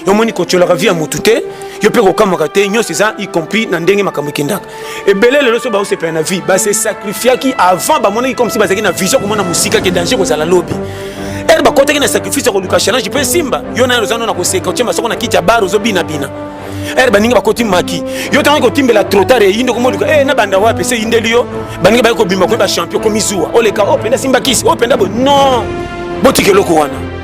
yo moni kotyolaka vie ya motu te yo mpe kokamwaka te nyonso eza y compris na ndenge makambo ekendaka ebele lelo so baosepela na vie base sacrifiaki avant bamonaki comme si bazalaki na vision komona mosika ke danger kozala lobi ere bakotaki na sacrifice ya koluka challenge mpe esimba yo nayo oza no na koseka otye masoko na kiti ya bar ozobinabina ere baninga bakoti maki yo ntango kotimbela trotar eyinde komoluka e eh, na banda wapi se eyindeli yo baninga baye kobima koyeba champion komizuwa oleka o oh, mpenza simbakisi o oh, mpenza bo non botika eloko wana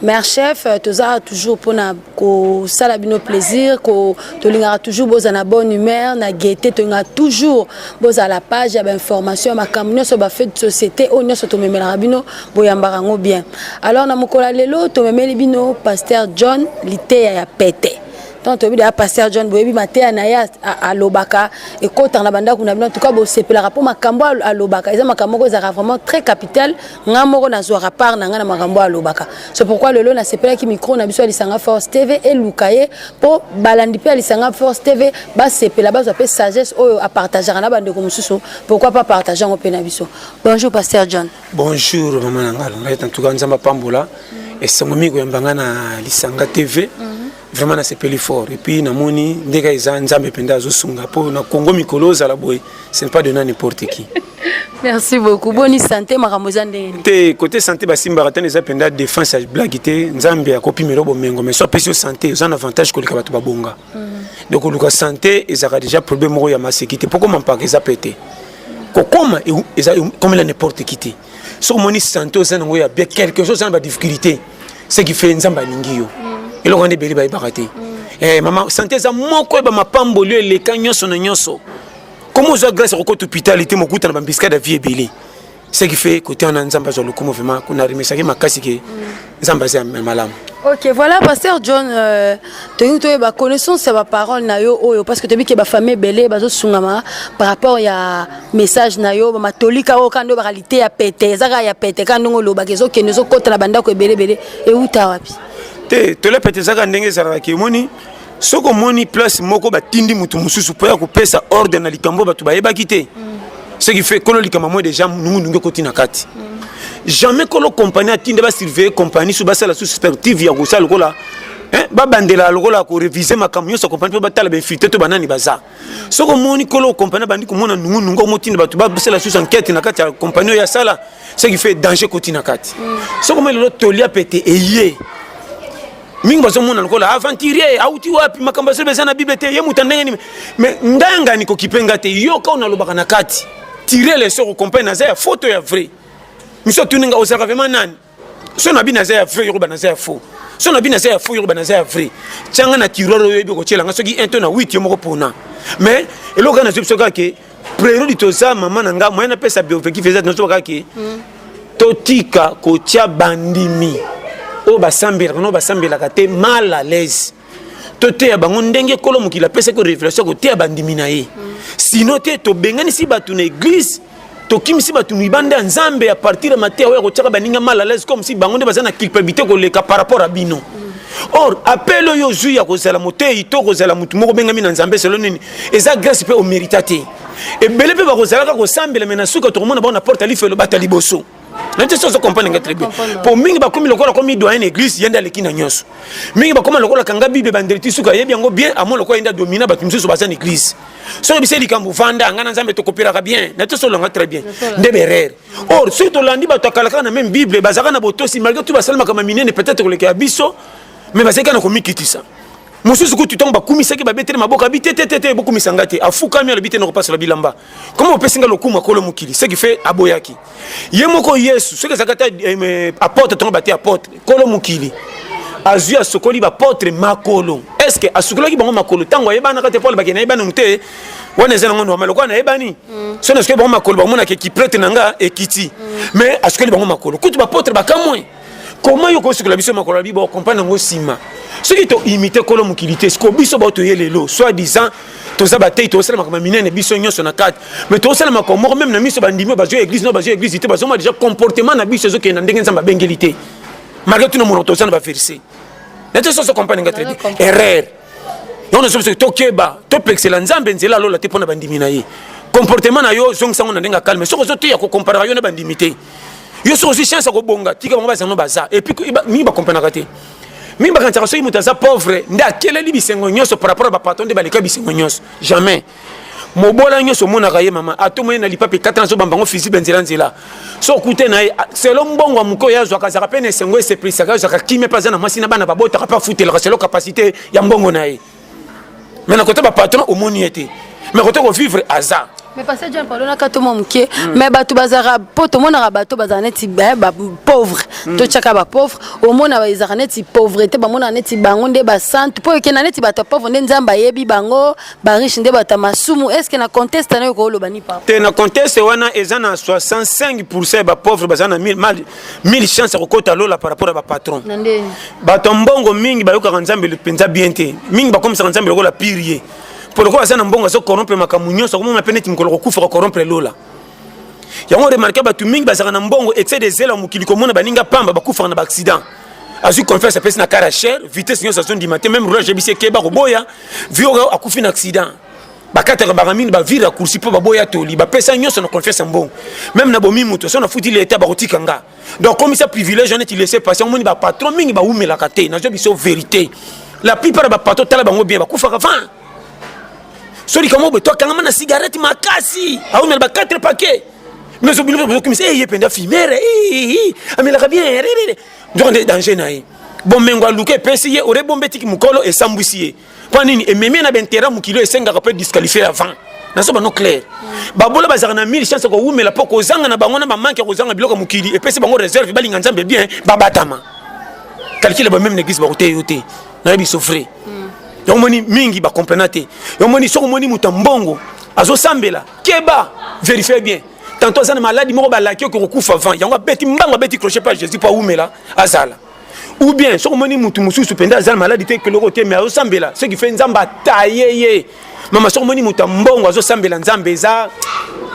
Mère chef euh, toza toujours pona ko sala bino plaisir ko tolingaka toujours boza na bonne humeur na gaieté tolingaka toujours boza la page ya ba information makambo nyonso ba fait de société oyo nyonso tomemelaka bino boyambaka yango bien alors na mokolo ya lelo tomemeli bino pasteur John liteya ya pete ntango toyebi deya pasteur john boyebi mateya na ye alobaka ekotaka na bandako na bino antuka bosepelaka mpo makambo alobaka eza makambo moko ezalaka vraiment très capital nga moko nazwaka part na nga na makambo alobaka c'est pourquoi lelo nasepelaki micro na biso ya lisanga force tv eluka ye mpo balandi mpe ya lisanga force tv basepela bazwa mpe sagesse oyo apartageaka na bandeko mosusu pourquoi pas partage yango mpe na biso bonjour pasteur john bonjour mama na ngai alongai en tout cas nzambe apambola esengo mingi koyamba ngai na lisanga tv mm. vraiment nasepeli fort et puis namoni ndeka eza nzambe mpenza azosunga mpo na congo mikolo ozala boye ce n'est pas de na n'importe qui merci beaucoup boni santé makambo eza ndenge nini te kote santé basimbaka tani eza mpenza défense ya blagi te nzambe akopimela yo bomengo mais so apesi yo santé oza na avantage koleka bato babonga mhm. donc koluka santé ezalaka déjà problème moko ya maseki te mpo koma mpaka eza pe te kokoma eza komela n'importe qui te soki omoni sante oza nango ya bien quelque chose oza na badifficulté ce qui fait nzambe alingi yo mm. eloko wana ebele bayebaka te mm. eh, mama sante eza moko yeba mapamboli eleka nyonso na nyonso komi ozwa grâce ya kokota hôpital te mokuta na bambiskade ya vie ebele ce qui fait kote wana nzambe azwa lokumu vraimen kuna remesaki makasi ke mm. nzambe aza ya malamu ok voilà pasteur john euh, tolingi toyeba connaissance ya baparole na yo oyo parce que toyebi ke bafamille ebele bazosungama par rapport ya message na yo bamatolika oyo kaka nde obaka lite ya pete eza kaka ya pete kaka ndenge olobaka ezokende ezokota na bandako ebele ebele euta wapi te tole pete eza kaka ndenge ezalaka ke omoni soki omoni place moko batindi moto mosusu mpo ya kopesa ordre na likambo bato bayebaki te ce qui fait kolo likambo moi déjà nungunungu ekoti na kati jamais kolo compagnie atinde basurveille compagnie so basala susu perspective ya kosala lokola babandela lokola korevise makambo nyonso ya compagnie mpo batala bainfiltre to banani baza soki omoni kolo compagnie abandi komona nungu nungu omotinda bato basala susu enquête na kati ya compagnie oyo asala ce qui fait danger koti na kati mm. soki omoni lelo tolia pete eye mingi bazomona lokola aventurier auti wapi makambo azoba eza na bible te ye moto ndenge nini mais ngai ngani kokipe ngai te yoka oyo nalobaka na kati tire lesoko compagnie naza ya foto ya vrai miso atuni ngai ozalaka vraimen nani so na bino aza ya vrai yoruba naza ya faux so na bino aza ya faux yoruba naza ya vrai tianga na tiroir oyo oyebi okotyela nga soki 1 to na 8 yo moko pona mais eloko kaka nazwi biso kaka ke prerudi toza mama na nga moyen napesa biofectif eza nazoba kaka ke hmm. totika kotya bandimi oyo basambelaka no basambelaka te mal à l'aise toteya bango ndenge kolo mokili apesaki révélation koteya bandimi na ye hmm. sino te tobenganisi bato na église tokimisi bato libanda ya nzambe ya partir ya mateya oyo ya kotyaka baninga mal alaise comme si bango nde baza na culpabilité koleka par rapport ya bino or apele oyo ozwi ya kozala moteyi to kozala motu moko obengami na nzambe selo nini eza grâce mpe omérita te ebele mpe bakozalaka kosambela me na suka tokomona bango na porte ya lifelo bata liboso na te sozo comprendre nga très bien po mingi bakomi lokola komi doyen na église yende aleki na nyonso mingi bakoma lokola kanga bible bandeli ti suka yebi yango bien amo lokola yende adomina bato mosusu baza na église soki bisa likambo vanda nga na nzambe tokopelaka bien na te solanga très bien nde berere or soki tolandi bato akalaka na meme bible bazalaka na botosi malgré tout basalamaka maminene peut-être koleka ya biso mais bazalaki na komikitisa mosusu kutu ntango bakumisaki babeteli maboka abi te te te te bokumisa ngai te afukami alobi te nakopasola bilamba koma opesi ngai lokumu akolo mokili ce qui fait aboyaki ye moko yesu soki ezalaka ata eh, apotre ntango bate apotre kolo mokili azwi asokoli bapotre makolo est ce que asukolaki bango makolo ntango ayebanaka te pole bakende ayebananu te wana eza nango normal lokola nayebani mm. so na soki bango makolo bamonaka ekiprete na nga ekiti mm. mais asukeli bango makolo kutu bapotre bakamwe koma yo kosukola biso makolo bibo okomprendre yango nsima soki toimite kolo mokili te sikoyo biso bao toye lelo soit disant toza batei tozosala makambo minene biso nyonso na kati mais tozosala makambo moko meme na miso bandimi oyo bazwi eglise no bazwi eglise te bazomona deja comportement na biso ezokende na ndenge nzambe abengeli te malgré tuna monoko toza na baverse nete soso comprendre nga très bien erreur yango nazo biso tokeba topekisela nzambe nzela alola te mpo na bandimi na ye comportement na yo zongisa yango na ndenge ya calme soki ozoteya kokomparaka yo na bandimi te yo soki ozwi chance ya kobonga tika bango bazano baza epuis mingi bakomprenaka te mingi bakanisaka soki moto aza pauvre nde akeleli bisengo nyonso par rapport ya bapatron nde baleka bisengo nyonso jamais mobola nyonso omonaka ye mama atomoni na lipape kata na zobamba yango fizibe nzela nzela so okute na ye selo mbongo ya moke oyo azwaka azalaka mpe na esengo esepelisaka azwaka kimia mpe aza na mwasi na bana babotaka mpe afutelaka selo kapasite ya mbongo na ye mai na kote bapatron omoni ye te mai kote kovivre aza mais pasteur jean paul onaka to mwa moke hmm. mais bato bazalaka mpo tomonaka bato bazala neti eh, bapauvre hmm. totyaka bapauvre omona ezalaka neti pauvrete bamonaka neti bango nde basante mpo ekenda neti bato ya pauvre nde nzambe ayebi bango ba riche nde bata masumu est ce que na conteste nayo kooloba ni papa te na conteste wana eza na 65 pourcent ya bapauvre baza na 1000 mal 1000 chance ya kokota lola par rapport ya bapatron bato ya mbongo mingi bayokaka nzambe mpenza bien te mingi bakomisaka nzambe lokola pire ye mpo lokola aza na mbongo azokorompre makambo nyonso akomona mpe neti mokolo kokufa kokorompre lola yango remarke bato mingi bazalaka na mbongo excès de zela mokili komona baninga pamba bakufaka na baaccident azwi confiance apesi na kara cher vitesse nyonso azondima te meme roulage yebisi ekeba koboya vioka akufi na accident bakataka bango mingi bavire akursi mpo baboya toli bapesa nyonso na confiance ya mbongo meme na bomi moto so nafuti leta bakotika nga donc komisa privilège wana eti laisse passer omoni bapatron mingi bawumelaka te nazwa biso verité la plupart ya bapatron tala bango bien bakufaka van so likambo boye to akangama na cigarette makasi awumela ba 4 paquet mais obino bozo kimisa eh, ye penda fimere amelaka bien donc nde danger na ye bomengo aluka epesi ye ore bombe tiki mokolo esambwisi ye mpo nini ememi na bainteret mokili esengaka mpe disqualifie avant naso bano claire babola bazalaka na mille chance kowumela mpo kozanga na bango na bamanke ya kozanga biloko ya mokili epesi bango réserve balinga nzambe bien babatama calcule bameme na église bakoteya yo te nayebi sofre yango omoni mingi bakomprena te yango omoni soki omoni moto ya mbongo azosambela keba verifie bien tanto aza na maladi moko balaki oke kokufa avant yango abeti mbango abeti crochet pa jésus mpo awumela azala ou bien soki omoni motu mosusu mpenza aza na maladi te keloko te mais azosambela ce qui fait nzambe ataye ye mama soki omoni moto ya mbongo azosambela nzambe eza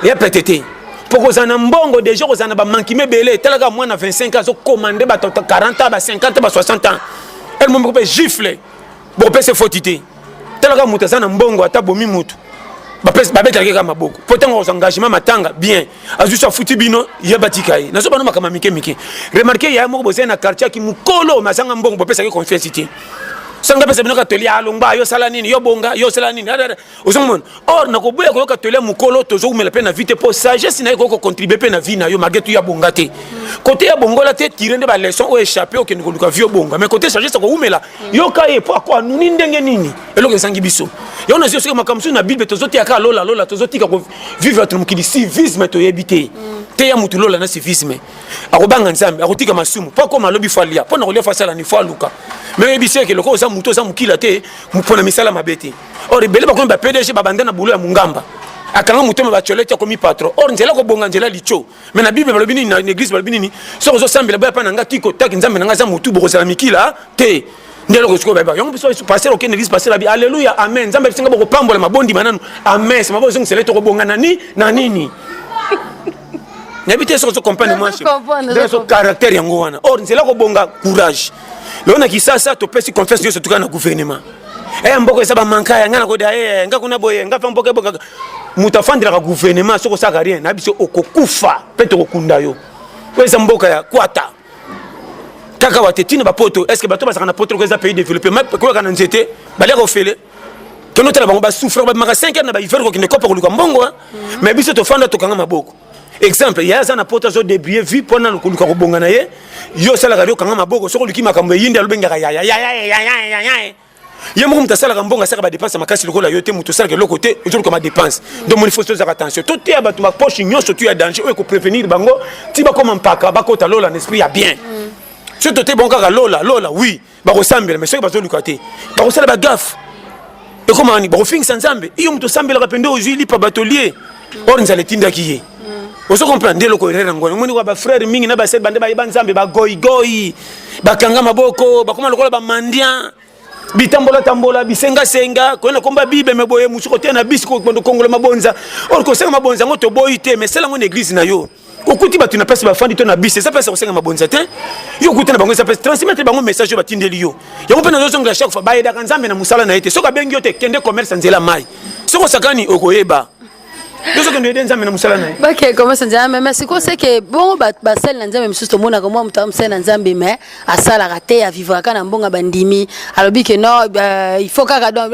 ya pete te mpo kozala na mbongo deja kozala na bamankime ebele talaka mwana 25 ans azokomande bato 40 ans ba 50 ba 60 ans elmomoko mpe gifle bopesa efoti te talaka moto aza na mbongo ata bomi motu babetelaka kaka maboko mpo ntango akozwa engagement matanga bien azwi so afuti bino ye batika ye nazo bano makambo mike mike remarke yaya moko bozali na quartier aki mokolo mazanga mbongo bopesaki confiance te sanga pesa bino katoli alongba yo sala nini yo bonga yo sala nini ozo mona or na koboya koyoka tole ya mokolo tozowumela mpe na vie te mpo sagesse na ye ekoki kocontribue mpe na vie na yo malgre tu ya bonga te kote ya bongola te tire nde baleçon oyo échappe okende koluka vie obonga mais kote sagesse akowumela yoka ye mpo ako anuni ndenge nini eloko ezangi biso yango nazi soki makambo mosusu na bible tozoteya kaka lola lola tozotika kovivre bato na mokili civisme toyebi te teya motu lola na civisme akobanga nzambe akotika masumu mpo akoma alobi fo alia mpo na kolia fo asala ni fo aluka me oyebisi eke lokola oza motu oza mokila te mpo na misala mabe te or ebele bakomi ba pdg babanda na boulot ya mungamba akanga motema bacolete akomi patron or nzela kobonga nzela lico me na bible balobi nini na église balobi nini soki ozosambela boya mpa na nga tiko taki nzambe na nga aza motu bokozala mikila te nde eloko sikoyo bayeba yango biso paster okende église paster abi alleluya amen nzambe abisinga bokopambola mabondima nanu amen sima bozongisela ete okobonga na nini na nini nayebi te soki ozo comprendre mwa caractère yango wana or nzela kobonga courage lelo na kisasa topesi confiance nyonso tuka na gouvernement eya eh, mboka eza bamanka ya ngai nakoda ye eh, eh, ngai kuna boye ngai mpe mboka ebokaka moto afandelaka gouvernement soki osalaka rien na biso okokufa mpe tokokunda yo oyo eza mboka ya kwata kaka wate ntina bapoto estce bato bazalaka na poto loko eza pays développé koyaka na nzete baliaka ofele tono tala bango basouffre bamaka 5 heure na bahiver kokende kopa koluka mbongo mais biso tofanda tokanga maboko exemple ye aza na poto azo debrie vie mpo nanu koluka kobonga na ye yo osalaka yo okanga maboko soki oluki makambo eyindi alobengaka yaya yaya ye moko moto asalaka mbongo asalaka badepense ya makasi lokola yo te moto osalaka eloko te ozoluka madepense donc moni fosi tozalaka tension toteya bato bapoche nyonso tu ya danger oyo ekoprevenir bango ti bakoma mpaka bakota lola na esprit ya bien soki toteyi bango kaka lola lola oui bakosambela me soki bazoluka te bakosala bagafe ekomaka nini bakofingisa nzambe iyo moto osambelaka mpe nde ozwi lipa batolie or nzala etindaki ye ozo comprendre nde eloko erreur yango omoni kwa bafrere mingi na basere bande bayeba nzambe bagoigoi bakanga maboko bakoma lokola bamandian bitambolatambola bisengasenga koyena komba bible me boye mosuku oteya na bisi kongola mabonza or kosenga mabonza yango toboyi te me sela yango na eglize na yo okuti bato na place bafandi to na bus eza place ya kosenga mabonza te yo okuti na bango eza place transmettre bango message oyo batindeli yo yango mpe nazozongela chaque fois bayedaka nzambe na mosala na ye te soki abengi yo te kende commerce nzela mai soki osakani okoyeba tozokende yede nzambe na mosala na ye bake komesa nzambe mais sikoyo seke bongo basali na nzambe mosusu tomonaka mwa moto amosali na nzambe mais asalaka te avivraka na mbongo bandimi alobi ke non euh, il faut kaka donc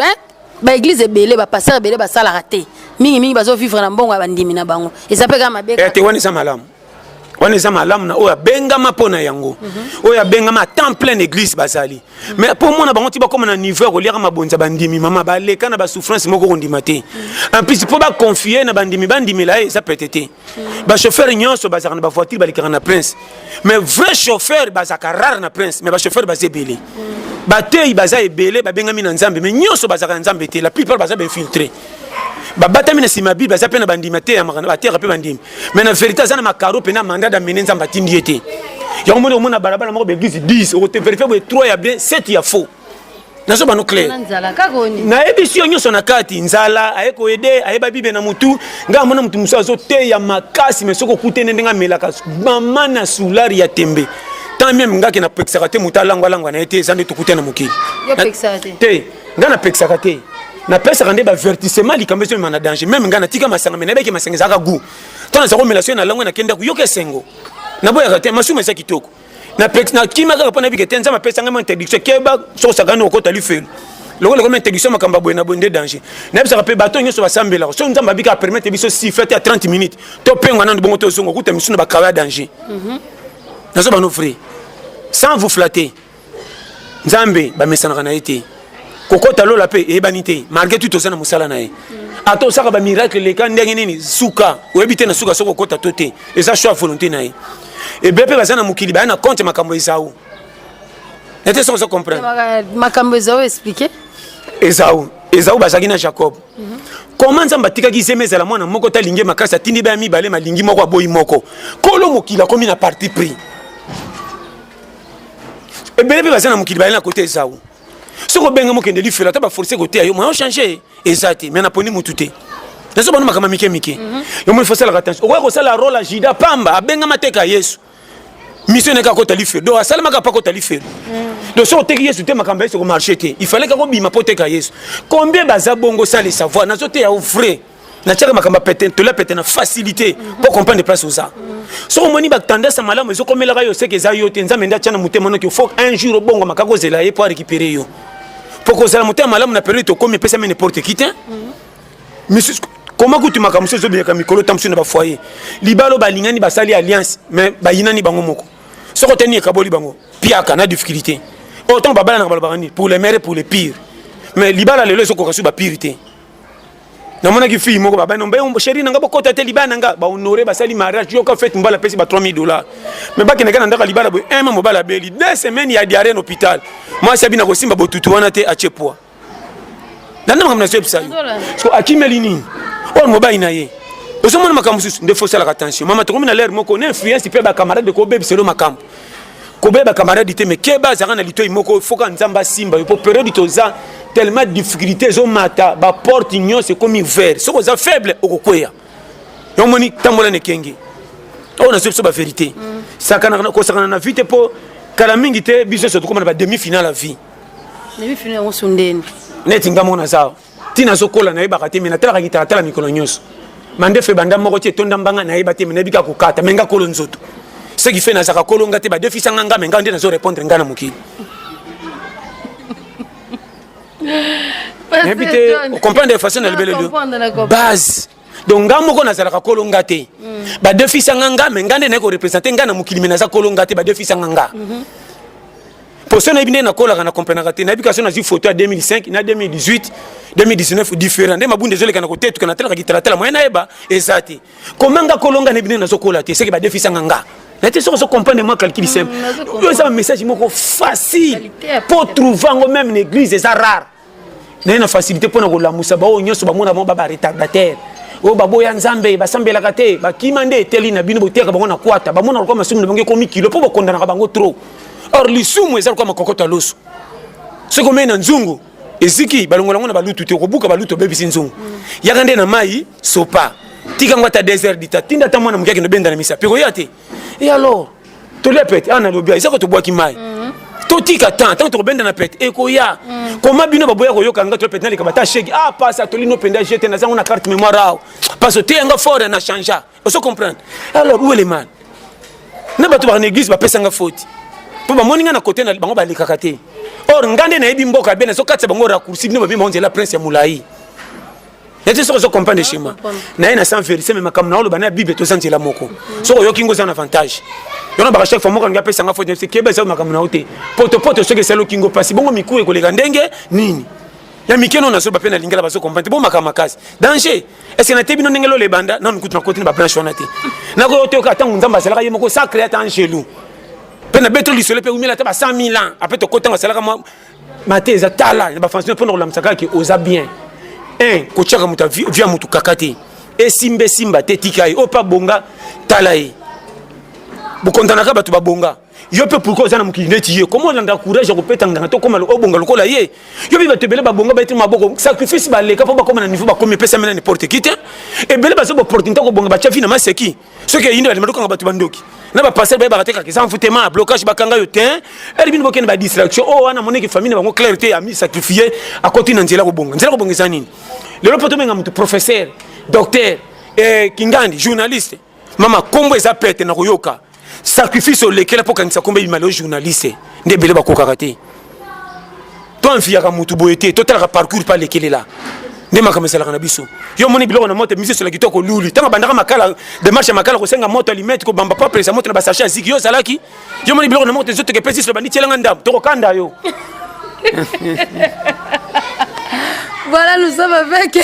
ba église ebele ba pasteur ebele basalaka te mingi mingi bazo vivre na mbongo ya bandimi na bango eza mpe kaka mabe eh, te wana eza malamu wana eza malamu na oyo abengama mpo na yango mhm. oyo abengama temps plein église bazali mhm. mais mpo omona bango ti bakoma na niveau ya koliaka mabonza bandimi mama baleka na basouffrance moko kondima te mhm. en plus mpo baconfie na bandimi bandimela ye eza pete te ba chauffeur nyonso bazalaka na ba voiture balekaka na prince mais vrai chauffeur bazalaka rare na prince mais ba chauffeur baza ebele bateyi baza ebele babengami na nzambe mais nyonso bazalaka na nzambe te la plupart baza bainfiltre babatami na nsima bible baza mpe na bandimi ateyamaka bateyaka mpe bandimi mais na verité aza na makaro mpe na mandat d'amene nzambe atindi ye te yango moni omona balabala moko baeglise 10 okote verifie boye 3 ya bien 7 ya faux nazo bano clair nayebisi yo nyonso na kati nzala aye koyede ayeba bible na motu ngai amona motu mosusu azoteya makasi me soki okute nde ndenge amelaka mama na soulari ya tembe tant meme ngai ke napekisaka te motu alangwalangwa na ye te eza nde tokute na mokili te ngai napekisaka te napesaka nde bavertissement likambo ezo mema na danger meme ngai natika masanga me nayebaki masanga ezalaka gout ntango naza komela soki na langwe na kende ako yoka esengo naboyaka te masumu eza kitoko na pek na kima kaka pona bikete nzama pesa ngama interdiction keba soko sakani okota lifelo lokola ekoma interdiction makambo ya boye na boye nde danger nayebisaka mpe bato nyonso basambelaka soki nzambe abika apermettre biso si fete ya 30 minutes topengwa nano bongo tozonga okuta misusu na bakawa ya danger mhm. nazo bano vrai sans vous flatter nzambe bamesanaka na ye te kokota lola mpe eyebani te malgré tout toza na mosala na ye ata osaka bamiracle leka ndenge nini suka oyebi te na suka soki okota to te eza choix volonté na ye ebele mpe baza na mokili baya na compte makambo ezao ete soki ozo comprendre makambo ezao explike ezao ezao bazalaki na jacob mhm. koma nzambe atikaki zema ezala mwana moko te alingi makasi atindi baya mibale malingi moko aboyi moko kolo mokili akomi na parti pris ebele mpe baza na mokili bayali na kota ezau soki obenga mokende lifelo ata baforce koteya yo moyen change eza te mai naponi motu te nazo bana makambo mike mike mhm. yo moni fosalaka tension okoki kosala role ya jida pamba abengama teka yesu mission nayeke akota lifelo donc asalemaka mpe akota lifelo mhm. donc soki oteki yesu te makambo ya yesu ekomarche te ifalaki akobima mpo oteka yesu combien baza bongo sala esavoir nazoteya yo vrai na tiaka makambo pete tola pete na facilité pour comprendre les places aux arts soki omoni batendance ya malamu ezokomelaka yo seke eza yo te nzambe nde atya na motema noki fo un jour obongo makaka ozela ye mpo arécupere yo mpo kozala motema malamu na periode tokomi epesami n'importe qui te misusu koma kutu makambo mosusu ezobimaka mikolo ntango mosusu na bafoye libalo balingani basali alliance mais bayinani bango moko soko te nini ekaboli bango piaka na difficulté oyo ntango babalanaka balobaka nini pour le maire pour le pire mais libala lelo ezokoka su bapire te namonaki fille moko babani ombe oh, chéri na nga bokota te libala na nga bahonore basali mariage yoka fete mobala apesi ba 3000 dollars me bakendaka na ndako ya libala boye eme mobala abeli deux semaine ya diare na hôpital mwasi abi na kosimba botutu wana te atie poids danda makambo nazoyebisa yo so akimeli nini oyo mobali na ye ozomona makambo mosusu nde fosalaka tension mama tokomi na lere moko na influence mpe bacamarade kobebisa elo makambo koboya bakamaradi te me keba azalaka na litoi moko foka nzambe asimba yo mpo periode toza tellement difficulté ezomata baporte nyonso ekomi vert soki oza faible okokweya yo omoni tambola na ekenge oyo nazo biso baverité mm. kosakana na vie te mpo kala mingi te biso nyonso tokoma na bademi finale ya vie neti nga moko naza ntina azokola nayebaka te me natalaka kitalatala mikolo nyonso mandefu ebanda moko ti etonda mbanga nayeba te me nayebi kaka kokata me nga kolo nzoto ce qui fait nazalaka kolo nga te badefisa nga nga me nga nde nazo répondre nga na mokili nayebi te okomprendre façon na libeleli base donc nga moko nazalaka kolo nga te mm. badefisa nga nga me nga nde naye korepresente nga na mokili me naza kolo nga te badefisa nga nga mm -hmm. poso nayebi nde nakolaka na comprenaka te nayebi kasi nazwi foto ya 2005 na 2018 2019 différent nde mabunda ezoleka na kotetuka natalaka kitalatala moye nayeba eza te koma nga kolo nga nayebi nde nazokola te seke badefisa nga nga na te soki ozo comprendre mwa calcul mm, simple oyo eza bamessage moko facile po trouve yango meme na église eza rare naye na facilité mpo na kolamusa baoyo nyonso bamona bango baba retardataire oyo baboya nzambe basambelaka te bakima nde eteli na bino boteyaka bango na kwata bamona lokola masumu na bango ekomi kilo mpo bokondanaka bango trop or lisumu eza lokola makokoto ya loso soki omei na nzungu eziki balongola yango na balutu te okobuka balutu obebisi nzungu yaka nde na mai sopa tika yango ata 2 heures dita tinda ata mwana moke akende obenda na misapi okoya te e alors tolia pete awa nalobi eza ko tobwaki mai mhm. totika temps ntango tokobenda na pete ekoya mhm. koma bino baboya koyoka nga toya pete naleka bata shege a ah, pasi atoli no mpenza jete naza yango na carte mémoire awa parce oteya nga fort na changea ozo comprendre alors où est le mal na bato baka na église bapesa nga foti mpo bamoni nga na kote na bango balekaka te or nga nde nayebi mboka bene ezokatisa bango raccourci bino babima onzela prince ya molai neti soki ozo comprendre chez moi na ye na sans verité mais makambo na oloba na ya bible toza nzela moko soki oyoki ngo eza na avantage yona baka chaque fois moko alingi apesa nga faute nayebisi keba eza makambo na yo te potopoto soki esali oki ngo mpasi bongo miku ekoleka ndenge nini ya mike no nazoba mpe nalingela bazo comprendre bo makambo makasi danger ese natebi bino ndenge lola ebanda nanu kutu nakoti na babranche wana te nakoki otoyoka ntango nzambe azalaka ye moko sacre ata angelou mpe nabetoli lisolo mpe umela ata ba 100 000 ans apres tokotanga asalaka mate eza tala na bafansi mpo na kolamisa kaka ke oza bien un kotyaka moto vi ya motu kaka te esimba esimba te tika ye oyo mpe abonga tala ye bokontanaka bato babonga yo mpe pourkoi oza na mokili neti ye koma olanda courage ya kopeta nganga to koma obonga lokola ye yo mpe bato ebele babonga bayetima maboko sacrifice baleka mpo bakoma na niveau bakomi epesami na n'importe qui te ebele baza bopportunité kobonga batya vi na maseki soki eyindo bandima tokanga bato bandoki na bapasele bayebaka te kaka eza envoutema ya blocage bakanga yo te eli bino bokende badistraction oyo oh, wana amoneki famille na bango claire te ami sacrifie akoti na nzela kobonga nzela kobonga eza nini lelo mpo tobenga moto professeur docteur eh, kingandi journaliste mama nkombo eza pete na koyoka sacrifice olekela mpo okangisa nkombo ebima leo journaliste nde ebele bakokaka te to enfiyaka motu boye te totalaka parcours pa lekelela nde makambo esalaka na biso yo omoni biloko na moto mise esola kitoko luli ntango abandaka makala demarche ya makala kosenga moto alimete kobamba papresa moto na basache ya ziki yo ozalaki yo omoni biloko na moto ezotoka epesi iso bandi tielanga ndambo tokokanda yo Voilà, nous sommes avec,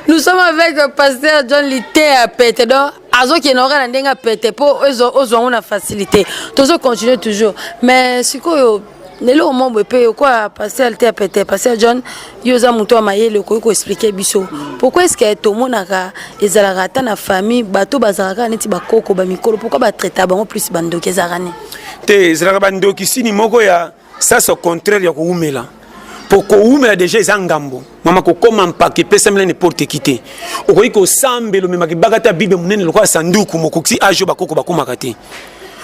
nous sommes avec Pasteur John Litea Pete. Donc, azokende oka na ndenge ya pete mpo ozwa yango na facilité tozo continue toujours mais sikoyo na eloko moko boye mpe okoya pasteur te ya pete pasteur john yo oza moto ya mayele okoki koexplike biso pourkoi eske tomonaka ezalaka ata na famille bato bazalaka kaka neti bakoko bamikolo pourkoi batraita bango plus bandoki ezalaka nini te ezalaka bandokisini moko ya ça c'est au contraire ya kowumela mpo kowumela deja eza ngambo mama kokoma mpaka epesamela neporte ki te okoki kosambela omemaka ebaka ata bible monene lokola sanduku mokoki ajo bakoko bakomaka te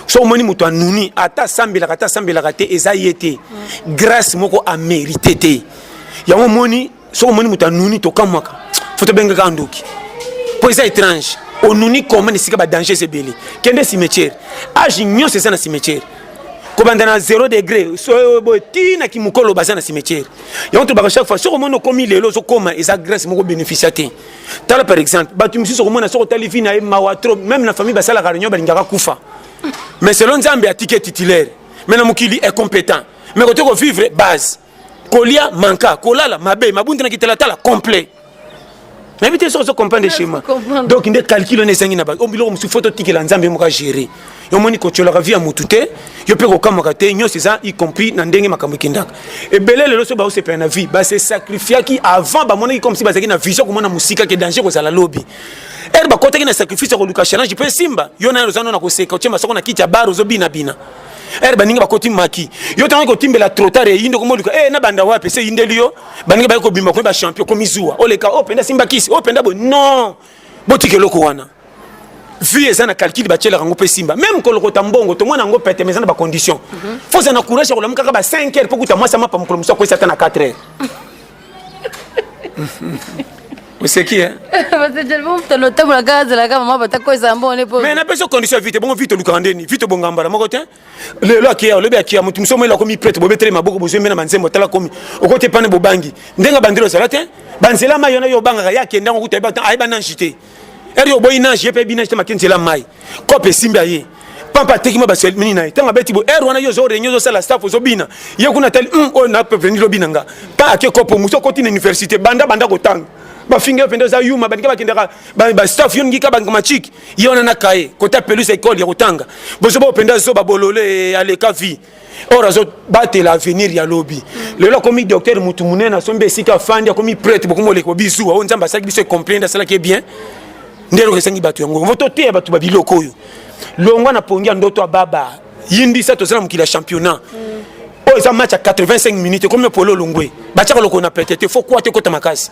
so omoni moto anuni ata asambelaka ata asambelaka te eza ye te grâce moko amerite te yango omoni soki omoni moto anuni tokamwaka fo tobengaka ndoki mpo eza étrange onuni koma na esika badanges ebele kende cimetière age nyonso eza na cimetière kobanda na 0 degré soyo boye ti na kimokolo baza na cimetière yango tolobaka chaque fois soki omoni okomi lelo ozokoma eza grâce moko bénéficia te tala par exemple bato mosusu okomona soki otali vi na ye mawa trop même na famille basalaka réunion balingaka kufa mais selon nzambe atike titulaire mais na mokili incompétent mais kote kovivre base kolia manka kolala mabe mabunde na kitalatala complet nayebi te soki ozo comprendre schéma donc nde calcul wana ezangi na bato o biloko mosusu fo totikela nzambe moko agere omoni kotyolaka vi ya motu te yo mpe kokamwaka te nyonso eza y compris na ndenge makambo ekendaka ebele lelo so baosepela na vie base sacrifiaki avant bamonaki comme si bazalaki na vision komona mosika ke danger kozala lobi ere bakotaki na sacrifice ya koluka challenge mpe esimba yo nayo oza no na koseka otye masoko na kiti ya bar ozobinabina ere baninga bakoti maki yo ntango kotimbela trotar eyi ndoko moluka e eh, nabanda wapi se eyindeli yo baninga baye kobima komi bachampion komizuwa oleka o oh, mpenza simba kisi o oh, mpenza boye non botika eloko wana vie eza na calcul batyelaka yango mpe simba meme kolokota mbongo tomona yango pete mais eza na bacondition mhm. fo ozala na courage ya kolamu kaka ba 5 heures mpo kuta mwasi amapa mokolo mosusu akwesi ata na 4 heures oseki eh? mais napesa condition ya vite bongo vite olukaka ndeni vite obongambala moko te lelo akia olobi akia moto mosusu omela akomi prete bobetele maboko bozwi mbe na banzembo otala komi okoti epane bobangi ndenge bandelo ozala te banzela mai yona yo obangaka ye akenda ngo kuta ayeba nanji te eri oboyi na je pe bina te makenzi la mai kope simba ye pampa ateki ma basel mini naye tanga beti bo er wana yo zo renyo zo sala staff zo bina ye kuna tel um o na pe venir bina nga pa ake kopo muso koti na université banda banda ko tanga ba finga pende za yuma bandika ba kendaka ba, ba staff yon ngika ba ngoma chiki ye wana na kaye kota peluse école ya kotanga bozo bo pende zo ba bolole aleka vie or azobatela avenir ya lobi lelo akomi docteur motu monene asombi esika afandi akomi prete bokomi oleki bobizuwa oyo nzambe asalaki biso ecomplainde asalaki ye bien nde eloko esengi bato yango vo toteya bato ba biloko oyo longwa na pongi ya ndoto ya baba yindisa toza na mokili ya championnat oyo eza match ya 85 minutes ekomi polo olongwe batyaka lokolo na pete te fo kwa te ekota makasi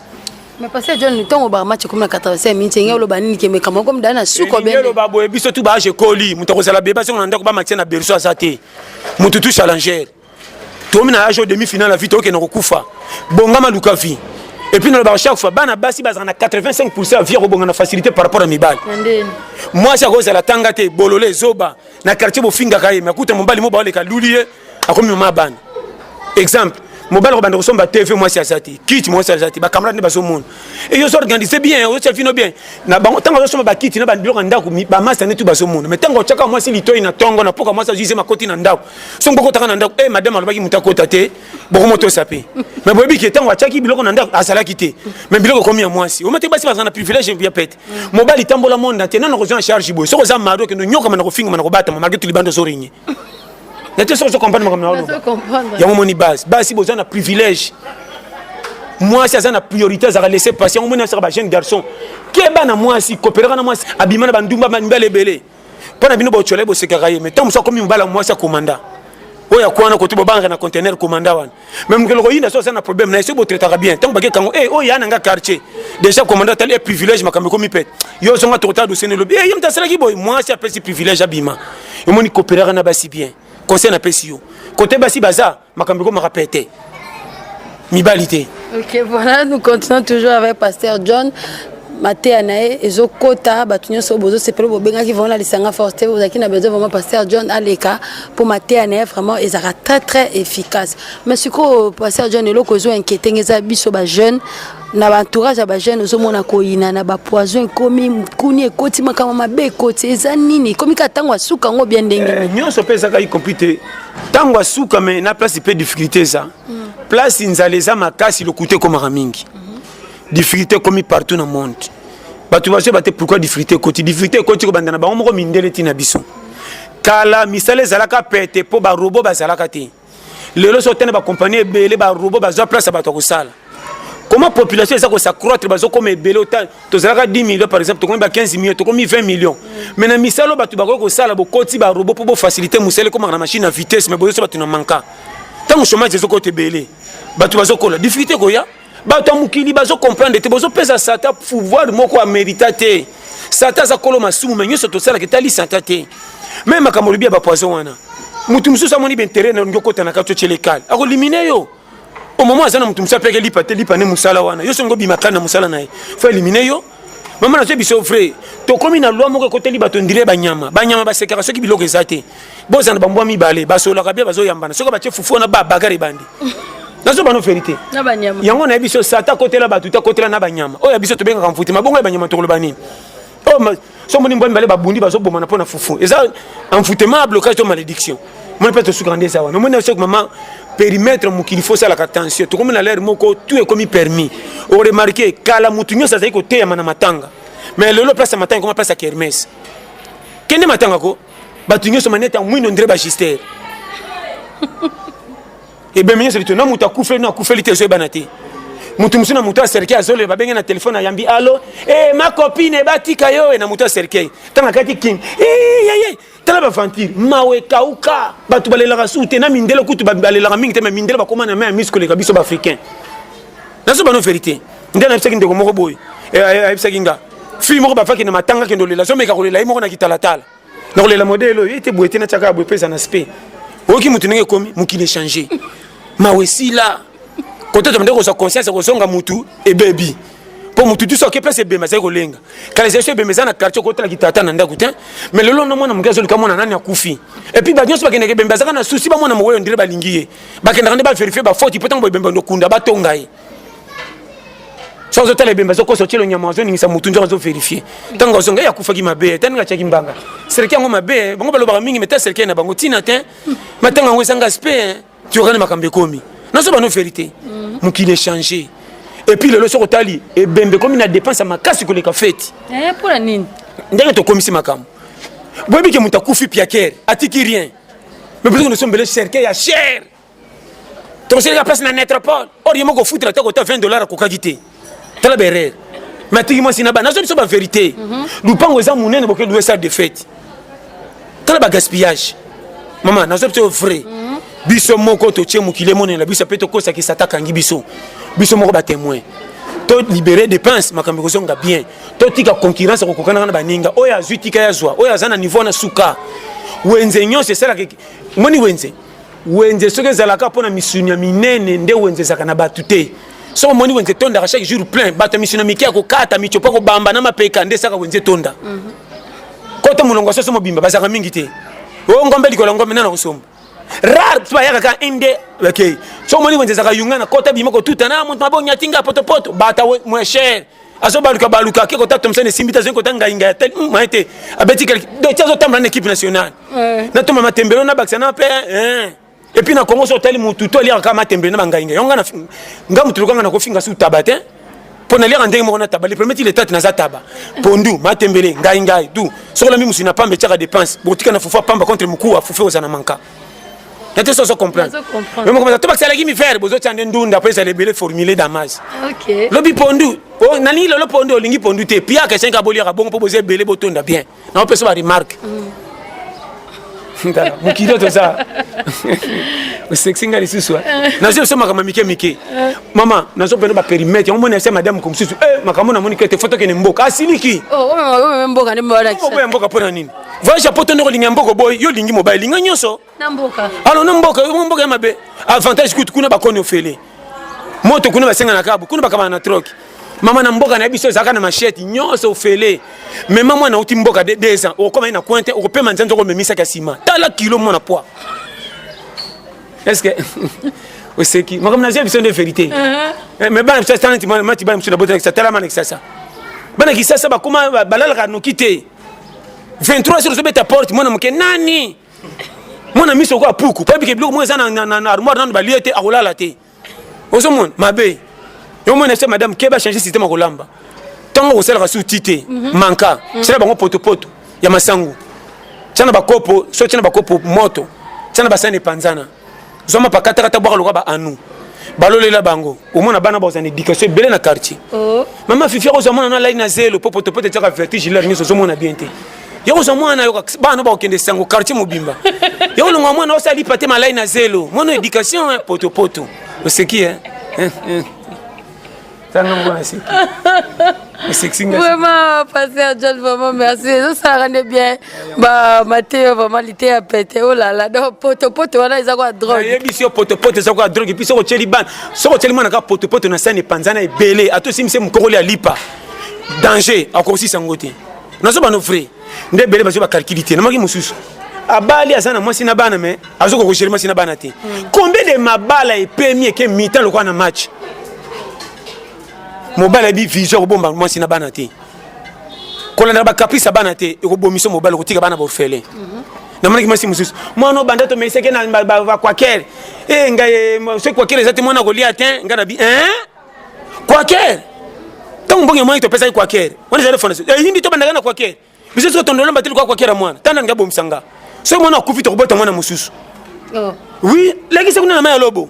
Mais pasteur John ntongo ba match comme na 85 minutes ngelo loba nini ke mekama comme dana suko bende. Ngelo ba boye biso tout ba je koli mutu ko sala beba songa ndako ba match na berceau aza te. Mutu tout challenger. Tomi na age demi finale vie toke na kokufa. Bongama luka vie. Et puis nalobaka chaque fois bana basi bazala na 85 pourcent ya vie ya kobonga na facilité par rapport ya mibali mwasi akozala tanga te bolole zoba na quartier bofingaka ye me akuta mobali mo baoleka luli ye akomi mama bana exemple mobali kobanda kosomba tv mwasi aza te kiti mwasi aza te bacamarade nde bazomona eyo ozo organise bien ozotia vino bien na bango ntango azosomba bakiti na babiloko ya ndako bamasa nde tu bazomona mai ntango otiaka mwasi litoi na ntongo na poka mwasi azuise makoti na ndako songo bokotaka na ndako e eh, madame alobaki moto akota te bokomotosa mpe mai boyebi ke ntango atiaki biloko na ndako azalaki te mai biloko ekomi ya mwasi omate basi bazala na privilege ya pete mm. mobali tambola monde entier nana kozwa na charge boye soki oza mari okende onyokama na kofingama na kobatama malgré tulibanda ozorinye nate soki ozo comprendre makambo na oloba yango omoni base basi boza na privilège mwasi aza na priorité azalaka laisse passer yango omoni asaka ba jeune garçon keba na mwasi koperaka na mwasi abima na bandumba bandumba ebele mpo na bino bocola ye bosekaka ye mais ntango mosusu akomi mobala mwasi ya komanda oyo akwa wana kote bobangaka na contener komanda wana mais mokelo koyinda so aza na problème na ye soki botraitaka bien ntango bakekango e eh, oyo ya na nga quartier déjà komanda atali e eh, privilège makambo ekomi pete yo ozonga tokota dosene lobi e ye moto asalaki boye mwasi apesi privilège abima omoni cooperaka na basi bien conseil napesi yo kote basi baza makambo ekomaka pete mibali te ok voilà nous continuons toujours avec pasteur john mateya na ye ezokɔta bato nyonso oyo bozosepela bobengaki vraimen na lisanga force te ozalaki na besoin vraiment pasteur john aleka mpo mateya na ye vraiment ezalaka très très efficace mais sikoyo pasteur john eloko ezo inquiété nge eza biso bajeune na baentourage ya bajeune ozomona koyina na bapoison ekomi mokuni ekoti makambo mabe ekoti eza nini ekomi kaka ntango asuka yango bia ndenge eh, nyonso mpe ezaka y compris te ntango asuka me na place mpe difficulté eza mm. place nzala eza makasi lokuta ekomaka mingi mm -hmm. difficulté ekomi partout na monde bato bazoyeba te pourquoi difficulté ekoti difficulté ekoti kobanda na bango moko mindele ti na biso kala misala ezalaka pete mpo barobo bazalaka te lelo so tene bakompani ebele barobo bazwa place ya bato ya kosala comment population eza kosacroître bazokoma ebele ota tozalaka 10 million par exemple tokomi ba 15 million tokomi 20 million mais na misala bato bakoki kosala bokoti barobot mpo bofacilite mosala ekomaka na machine na vitesse mais bozoso bato na manka ntango chômage ezokota ebele bato bazokola difficulté koya bato ya mokili bazocomprendre te bozopesa sata pouvoir moko amerita te sata aza kolo masumu me nyonso tosalaka etali sata te me makambo olobi ya bapoison wana moto mosusu amoni baintere na olingi okota na kati otyele kale akolimine yo au moment aza na moto mosusu apeke lipa te lipa nde mosala wana yo songo obima kani na mosala na ye fo elimine yo mama nazwi biso vrai tokomi na loi moko ekoteli bato ndire banyama banyama basekaka soki biloko eza te bozana bambwa mibale basololaka bia bazoyambana soki batye fufu wana babagare ebandi nazobano verité yango nayebi biso sata akotela bato te akotela na banyama oyo ya biso tobengaka mfuti mabongo ya banyama tokoloba nini Oh, ma... so moni mbwa mibale babundi bazobomana mpo na fufu eza envoûtement ya blocage to malédiction moni mpe tosukaka nde eza wana omoni soki mama perimetre mokili fo osalaka attention tokomi na lere moko tu ekomi permis oremarke kala motu nyonso azali koteyama na matanga mais lelo place ya matanga ekoma place ya kermes kende matanga ko bato nyonso manete ya mwino ndire bagister ebembe nyonso lito na moto akufeli no akufeli te ezoyebana te moto mosusu na moto ya cercueil azoloba babenge na telefone ayambi alo e eh, ma copine batika yo e na moto ya cercueil ntango akati king eyeye eh, tala baventure mawa ekauka bato balelaka suu te na mindele kutu balelaka mingi te ma mindele bakoma na mai ya misi koleka biso baafricain nazo bano verité nde nayebisaki ndeko moko boye eh, ayebisaki nga fille moko bafaki na matanga kende olela azomeka kolela ye moko na kitalatala na kolela modele oyo ete boye te natyaka ya boye mpe eza na spe oyoki moto ndenge ekomi mokili echange mawa esila kotata mende kozwa conscience ya kozonga motu ebebi mpo motu tuso ake place ebemba ezali kolenga kala ezali so ebemba eza na quartier okotala kitata na ndako te mais lelo na mwana moke azoluka mwana nani akufi epuis bato nyonso bakendaka ebemba azaka na susi bamwana moweyo ndire balingi ye bakendaka nde baverifie bafoti mpo ntango ebemba ndokunda batonga ye so ozotala ebembe azokosa otyelo nyama azoningisa motu nzoko azoverifie ntango azonga ye akufaki mabe ta ndenge atyaki mbanga serke yango mabe bango balobaka mingi meta serke na bango ntina te matango yango ezanga spe tiokani makambo ekomi nazo bano verité mhm. mokili echange epuis lelo soki otali ebembe ekomi na dépense ya makasi koleka feti eh, mpona nini ndenge tokomisi makambo boyebi ke moto akufi piakere atiki rien mais biso nous sommes bele cercueil ya chere tokosilika place na netropole or ye moko ofutela te kota 20 dollar akokaki te tala berere matiki mwasi na bana nazo biso baverité mhm. lupango eza monene boke loue salle de fete tala bagaspillage mama nazo biso vrai mhm. biso moko totie mokili emonela biso mpe tokosakisa takangi biso biso moko batemoin to libere dépense makambo ekozonga bien totika concurrence kokokanaka na baninga oyo azwi tika ya zwa oyo aza na niveau na suka wenze nyonso esalaka moni wenze wenze soki ezalaka mpo na misuni ya minene nde wenze ezalaka na bato te soki omoni wenze etondaka chaque jour plein bato ya misuni ya mike ya kokata mitiopo ya kobamba na mapeka nde esaka wenze etonda mhm. kota molongo ya soso mobimba bazalaka mingi te o oh, ngombe likolo ya ngombe nana kosomba rare ti bayaka ka inde bakei so omoni wenze ezalaka yunga na kota bima kotuta na moto mabe onyatinga potopoto bata moin cher azo baluka baluka ake kota tomsene esimbi te azoi kota ngainga ya tel hmm, maye te abeti kelke do ti azotambola na équipe nationale eh. natoma matembelo nabakisa na mpe eh. epuis na congo so otali motu to aliaka kaka matembelo na bangainga yango nga nga motu lokanga nakofinga su taba te mpo naliaka ndenge moko na taba le premier ti letate naza taba pondu matembele ngaingai du soki olambi mosuni na pamba etiaka dépense bokotika na fufu ya pamba contre mokuwa fufu oza na manka nate soso comprendre mais mokomeza to bakisalaki mifere bozotya nde ndunda mpo ezala ebele formule damage lobi pondu oh, nalingi lelo pondu olingi pondu te piaka esengi aboliaka bongo mpo boza ebele botonda bien naopesa baremarke tala mokili oyo toza osekisi ngai lisusu eh? nazo biso makambo mike mike eh. mama nazo mpena baperimetre yango moni ase madame ko mosusu eh, makambo namoni kete fo tokende mboka asiliki oh, oh, oh, mboka ya mboka mpo na nini voyage ya poto nde kolinga mboka oboyi yo olingi mobali linga nyonso alo na mboka mboka ya mabe avantage kutu kuna bakoni ofele moto kuna basenga na kabu kuna bakabana na troke mama na mboka na biso ezalaka na machete nyonso ofele mema mwana auti mboka de deux ans okokoma ye na coin te okopema nzanza okomemisaki ya nsima tala kilo mwana poids est ce que oseki makambo nazia biso nde verité uh-huh. eh, mais bana biso atanati mati bana biso na botanakisa tala mana kisasa bana kisasa bakoma balalaka noki te 23 jours ozobeta porte mwana moke nani mwana miso okoya puku pabike biloko moko eza na armoire nano balie te akolala te ozomona mabe yo mwana se madame keba change systeme akolamba ntango okosalaka su ti te mhm. manka mhm. sala bango potopoto ya masangu tia na bakopo so tia na bakopo moto tia na basani epanzana zwa mapakatakata bwaka lokola baanu balolela bango omona bana bazwa na éducation ebele na quartier oh. mama fifi akozwa mwana na lai na zelo mpo potopoto etiaka vertige hilaire nyonso ozomona bien te yakozwa mwana yo bana bakokende sango quartier mobimba yakolonga mwana osala lipa te malai na zelo mwana éducation potopoto oseki e tanga mwana eseki eseki nga vraiment pasteur john vraiment merci ezosalaka nde bien ba mateyo vraiment liteya pete olala oh donc potopoto wana eza kwa drogue nayebisi yo potopoto eza kwa drogue epuis soki otyeli bana soki otyeli mwana kaka potopoto na sani epanzana ebele ata osimisi mokokoli ya lipa danger akokosisa yango te nazoba no vrai nde ebele bazwi bakalkili te namaki mosusu abali aza na mwasi na bana me azokoka kogere mwasi na bana te hmm. combien de mabala epemi eke mitan lokola na match mobali abi vision akobomba mwasi na bana te kolandaka bacaprice ya bana te ekobomisa mobali okotika bana bofele mhm. namonaki mwasi mosusu mwana obanda tomeseke na bakwakere e eh, ngai eh, soki kwakere eza te mwana akolia te ngai na bi eh? Quaker ntango mbongo ya mwana topesaki Quaker wana ezali fondation eyindi eh, tobandaka na Quaker biso soki tondola mbateli kwa Quaker ya mwana tanda nga bomisa nga soki mwana akufi tokobota mwana mosusu oh. oui lekisa kuna na mai ya lobo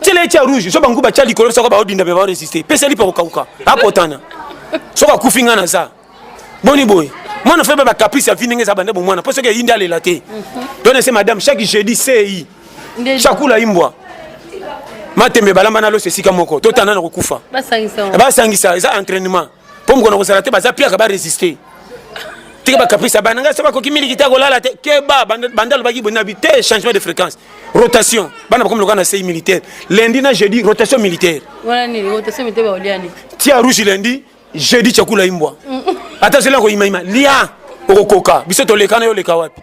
tyela etya rouge so bangu batya likolo soko baodinda me baoresiste pesa lipa kokauka apotana soki akufi ngai naza boni boye mwana faible ba caprice ya vie ndenge eza bande bomwana mpo soki eyindi alela te to nese madame chaque jeudi sei chakula imbwa matembe balamba na loso esika moko totanda na kokufa basangisa eza entraînement mpo mokona kozala te baza piaka baresiste tika bacaprice ya bana ngai so bakoki miliki te akolala te keba banda alobaki boye nabi te changement de fréquence rotation bana bakomi lokola na sei militaire lundi na jeudi rotation militaire tia rouge lundi jeudi chakula imbwa ata zela ko imaima lia okokoka biso tolekana yo leka wapi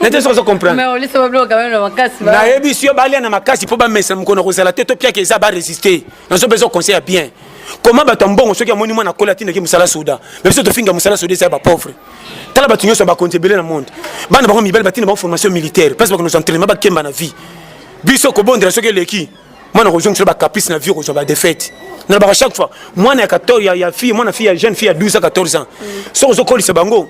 nete soki ozo comprendrenayebi si yo balia na makasi mpo bamesa mokona kozala te topiaka eza baresiste nazo mpe ezoconseil ya bien koma bato ya mbongo soki amoni mwana akola atindaki mosala soda me biso tofinga mosala soda eza ya bapauvre tala bato nyonso ya bakonzi ebele na monde bana bango mibali batinda bango formation militaire place bakonoza entraînement bakemba na vie biso kobondela soki eleki mwana akozongisela bacaprice na vie okozwa badefete nalobaka chaque fois mwana ya 14 ya, ya fille mwana fille ya jeune fille ya 12 a 14 ans soki ozokolisa bango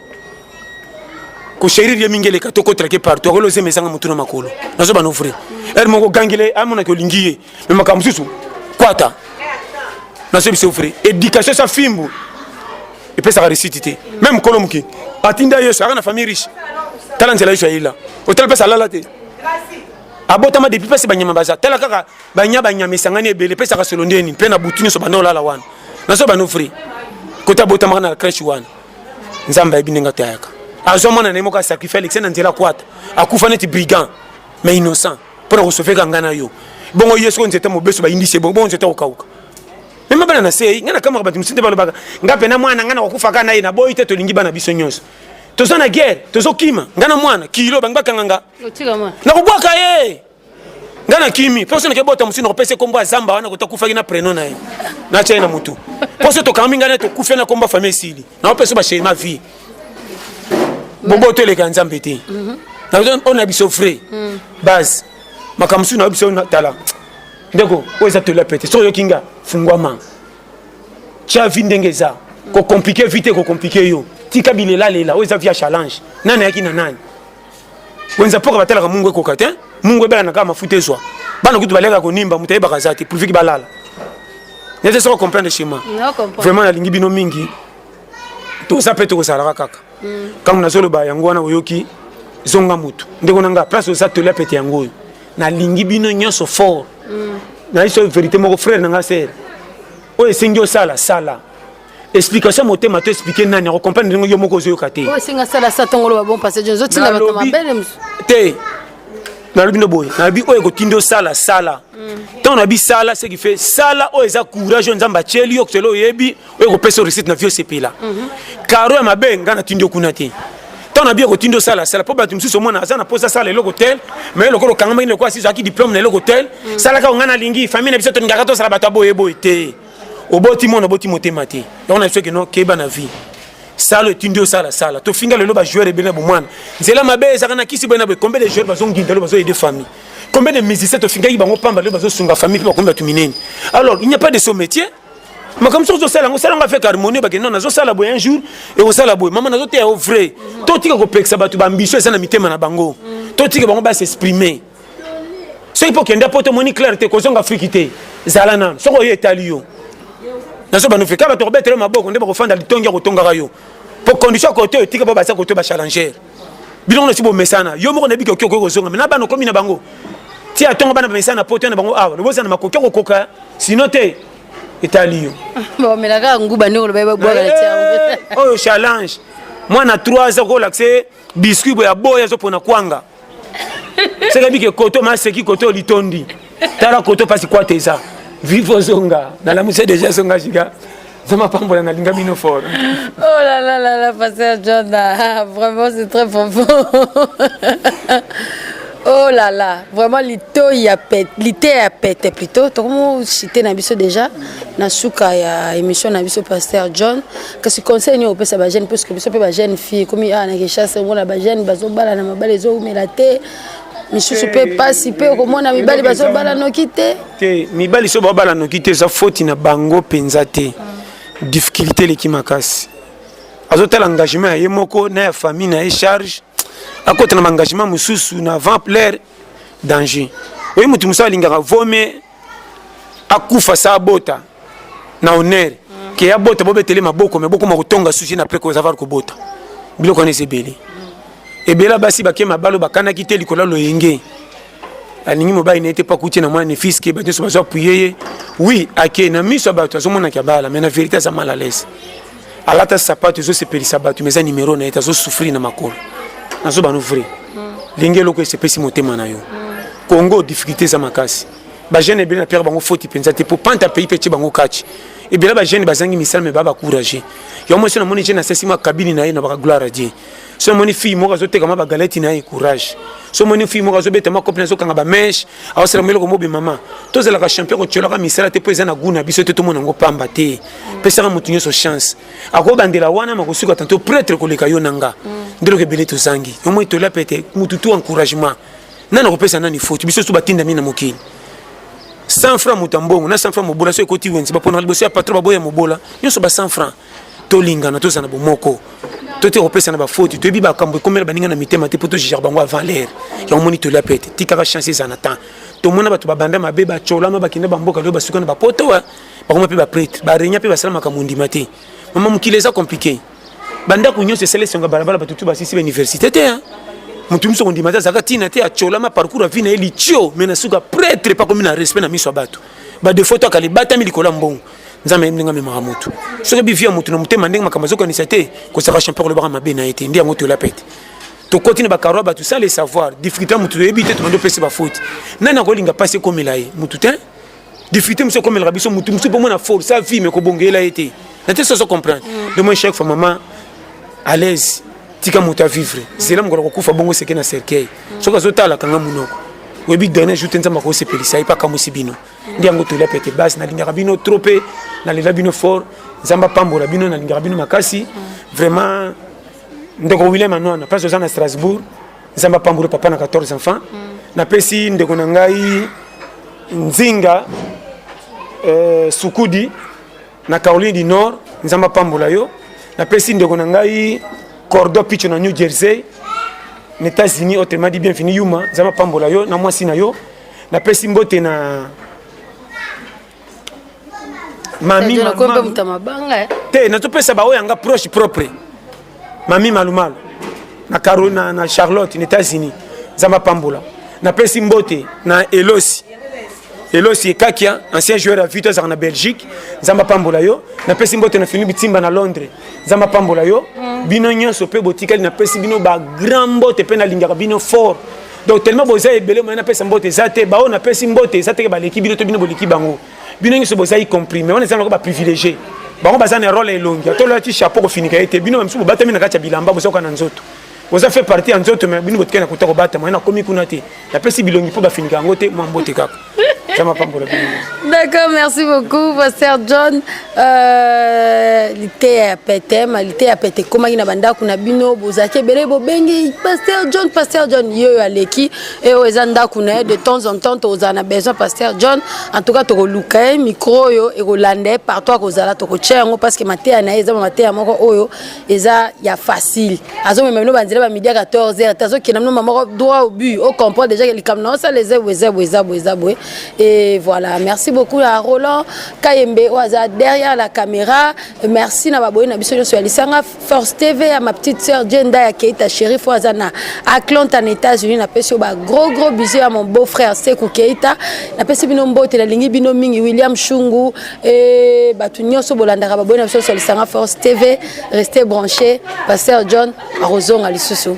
kosherir ye mingi eleka to kotrake partout akolo ozema ezanga motu na makolo nazo bana ofre ere moko gangele amonaki olingi ye me makambo mosusu kwata nazo biso ofre éducation sa fimbu epesaka resiti te meme mokolo moke atinda yesu aka na famille riche tala nzela yesu ayela otala mpesa alala te abotama depuis pasi banyama baza tala kaka banya banyama esangani ebele pesaka solo ndeni mpe na butu nyonso banda olala wana nazo bano fri kota abotamaka na crèche wana nzambe ayebi ndenge atayaka azwa mwana na ye moko asacrifie alexi na nzela akwata akufa neti brigand mais innocent mpo na kosofeka ngai na yo bongo ye soko nzete mobeso bayindisi ye bongo bongo nzete akokauka mema bana na sei ngai nakamaka bato mosusu nde balobaka ngai mpe na mwana ngai nakokufaka na ye naboyi te tolingi bana biso nyonso toza na guerre tozokima ngai na mwana kilo bangi bakanga nga nakobwaka ye nga na kimi mposo nake bota mosusu nakopesa ekombo ya zamba wana kota kufaki na preno na ye natya ye na motu mposo tokangami ngai na tokufe na kombo ya famille esili nakopesa basheri ma vie boboto eleka nzambe te mhm. oyo na biso vrai mhm. base makambo mosusu nayo biso tala ndeko oyo eza tola pete soki oyoki nga fungwama tya vi ndenge eza kokomplike vi te kokomplike yo tika bilelalela oyo eza vi ya challenge nani ayaki na nani wenza mpoka batalaka mungu ekoka te mungu ebelana kaka mafuta ezwa bana kutu baleka konimba moto ayebaka aza te pulviki balala nete soko comprendre chez moi vraiment nalingi bino mingi toza mpe tokozalaka kaka mm. ntango nazoloba yango wana oyoki zonga motu ndeko na ngai place oza tolia pete yango oyo nalingi bino nyonso fort mm. nayebi so verité moko frère na ngai sere oyo esengi osala sala explication ya motema to explike nani akokomprendre ndenge yo moko ozoyoka te oyo esenga sala sa ntongo loba bon passage ozotinda bato mabele mosusu te nalobi ndo boye nalobi oyo ekotindi osala sala ntango nabi sala ce qui fait sala oyo eza courage oyo nzambe atyeli yo kotela oyebi oyo ekopesa réussite na vie osepela karo mhm. ya mabe ngai natindi yo kuna te ntango nabi ekotindi osala sala mpo bato mosusu omona aza na mposa asala eloko tel mai lokola okangamaki lokola asizwaki diplome na eloko tel mhm. salaka ongai nalingi famille na biso tolingaka tosala bato ya boyeboye te oboti mwana oboti motema te yango na biso keno keba na vie sala etindi osala sala tofinga lelo bajoueur ebele na bomwana nzela mabe ezalaka na kisi boye na boye combien de joueur bazonginda lelo bazoyede famille combien de musicien tofingaki bango pamba lelo bazosunga famille mpe bakomi bato minene alors il n'y a pas de son métier makambo soki ozosala yango osala yango avec harmonie bakende no nazosala boye un jour ekosala boye mama nazoteya yo vrai totika kopekisa bato baambition eza na mitema na bango totika bango basexprime soki mpo okenda poto omoni claire te kozonga afriki te zala nano soki oyo etali yo nazo banofi kaka tokobetela maboko nde bakofanda litongi ya kotongaka yo mpo condition kote oyo tika mpo baza kote bachallenger bino ngono si bomesana yo moko nayebi koki okoki kozonga na bana okomi na bango ti atonga bana bamesana na poto na bango awa loboza na makoki okokoka sino te etali yo bamelaka nguba nde oloba ebabwaka na tiaoyo eh, challenge mwana 3 aza kolakse biscuit boya boya zo pona kwanga seke bike koto ma seki koto litondi tala koto pasi kwata eza vivo zonga nalamuse deja zonga jiga zama pambola nalinga bino fort oh là là là là pasteur John ah, vraiment c'est très profond oh là là vraiment lito ya pete lite ya pete plutôt tokomo cité na biso déjà na suka ya émission na biso pasteur John kasi conseil nini opesa ba jeune puisque biso mpe ba jeune fille komi awa ah, na kinshasa omona ba jeune bazobala na mabala ezoumela te misusu mpe mpasi mpe okomona mibali bazobala noki te te mibali so babala noki te eza foti na bango mpenza te difficulté eleki makasi azotala engagement ya ye moko na ya famille na ye charge akota na baengagement mosusu na vamplaire danger oyo moto mosusu alingaka vome akufa sa abota na honneur mm. ke abota bobetele maboko me bokoma kotonga susi na preko zavar kobota biloko wana eza ebele mm. ebela basi bake mabalo bakanaki te likolo ya loyenge alingi mobali na ye te mpo akuti na mwana nefisi ke bato nyonso bazo apuye ye wi ake na miso ya bato azomonaki abala me na verité aza mal à l'aise alata sapato ezosepelisa bato mais eza numero na ye te azosouffrir na makolo nazo bano vrai ndenge hmm. eloko esepesi motema na yo hmm. congo difficulté eza makasi bajeune ebele na pierre bango foti mpenza te mpo panta pays mpe tye bango kati ebele bajeune bazangi misala me baa bacourage yango mwasi namoni je nasasi mwa kabini na ye na bakagloire adie so omoni fille moko azoteka ma bagaleti na ye courage so omoni fille moko azobeta ma copine azokanga bameshe aosalama eloko mobe mama tozalaka champion kotiolaka misala te mpo eza na gout na biso te tomona yango pamba te pesaka moto nyonso chance akobandela wana makosuka tanto pretre koleka yo na nga nde eloko ebele tozangi omoi tola pete motu tu encouragement nani akopesa nani faute biso tu batindami na mokili 100 francs moto ya mbongo na 100 francs mobola so ekoti wenze baponaka liboso ya patron baboya mobola nyonso ba 100 francs tolingana tozala na bomoko totika kopesana bafoti toyebi bakambo ekomela baninga na mitema te mpo togigere bango ya valeur yango omoni tolia mpe te tikaka chance ezala na temps tomona bato babanda mabe bacolama bakenda bamboka leo basuka na bapoto eh. bakoma mpe baprêtre barenia mpe basala makambo ondima te mama mokili eza compliqué bandako nyonso esala esonga balabala bato tu basisi bauniversité te eh. moto mosusu akondima te azalaka ntina te acolama parcours avi na ye litio mai na suka prêtre epakomi na respect na miso ya bato badefaut to akala ebatami likolo ya mbongo nzambe ayebi ndenge amemaka motu soki oyebi vie ya motu na motema ndenge makambo azokanisa te kozaka champion olobaka mabe na ye te nde yango tola pete tokoti na bakaro ya bato sa le savoir difficulté ya motu toyebi te tobandi opesi bafaute nani akolinga mpasi ekomela ye motu te difficulté mosusu ekomelaka biso motu mosusu mpo mona force a vie me kobongela ye te na te soso comprendre mm. de moi chaque fois maman à l'aise tika moto avivre zela mokolo kokufa bongo seke na cercueil mm. soki azotala kanga monoko oyebi dernier jour te nzambe akosepelisa ye mpe akamwisi bino nde yango tolia pete base nalingaka bino trop mpe nalela bino fort nzambe apambola bino nalingaka bino makasi vraiment ndeko william anwana place oza na strasbourg nzambe apambola papa na 14 enfants napesi ndeko na ngai nzinga euh, sukudi na Caroline du Nord nzambe apambola yo napesi ndeko na ngai cordo picho na New Jersey na États-Unis autrement dit bienvenue yuma nzambe apambola yo na mwasi na yo napesi mbote na mami te nazopesa baoyo yanga proche propre mami malumalu na, Caro, na, na charlotte na états-unis nzambe apambola napesi mbote na elosi elosi ekakia ancien joueur ya vito azalaka na belgique nzambe apambola yo napesi mbote na fini bitimba na londres nzambe apambola yo mm. bino nyonso mpe botikali napesi bino bagrand mbote mpe nalingaka bino fort donc tellement boza ebele mai napesa mbote eza te baoyo napesi mbote eza teke baleki bino to bino boleki bango bino nyonso bozali comprime wana eza nako baprivilégie bango baza na role ya elongi ata olati chapeau kofinika ye te bino bamisusu bobatami na kati ya bilamba bozoka na nzoto boza fait partie ya nzoto me bino botikali na kota kobatama ye nakomi kuna te napesi bilongi mpo bafinika yango te mwa mbote kaka D'accord, merci beaucoup, Pasteur John. Euh, lité à pété, ma lité à pété. Comment il y a banda kuna bino, bozake bele bobengi, Pasteur John, Pasteur John, yo aleki. e oyo eza ndako na ye de temps en temps tokozala na besoin pasteur john en tout cas tokoluka ye micro oyo ekolanda ye partout akozala tokotya yango parce que mateya na ye eza bamateya moko oyo eza ya facile azomema bino banzela bamidi ya 14 heure te azokenda bino mamoko droit au but o comprendre déjà ke likambo na osala eza boye eza boye eza boye eza boye e voilà merci beaucoup ya roland kayembe oyo aza derrière la caméra merci na baboyi na biso nyonso ya lisanga Force TV ya ma petite sœur Jenda ya Keita Sheriff oyo aza na Atlanta na États-Unis napesi yo ba gros gros bisous ya mon beau frère Sekou Keita napesi bino mbote nalingi bino mingi William Shungu e bato nyonso bolandaka baboyi na biso nyonso lisanga Force TV restez branchés Pasteur John akozonga lisusu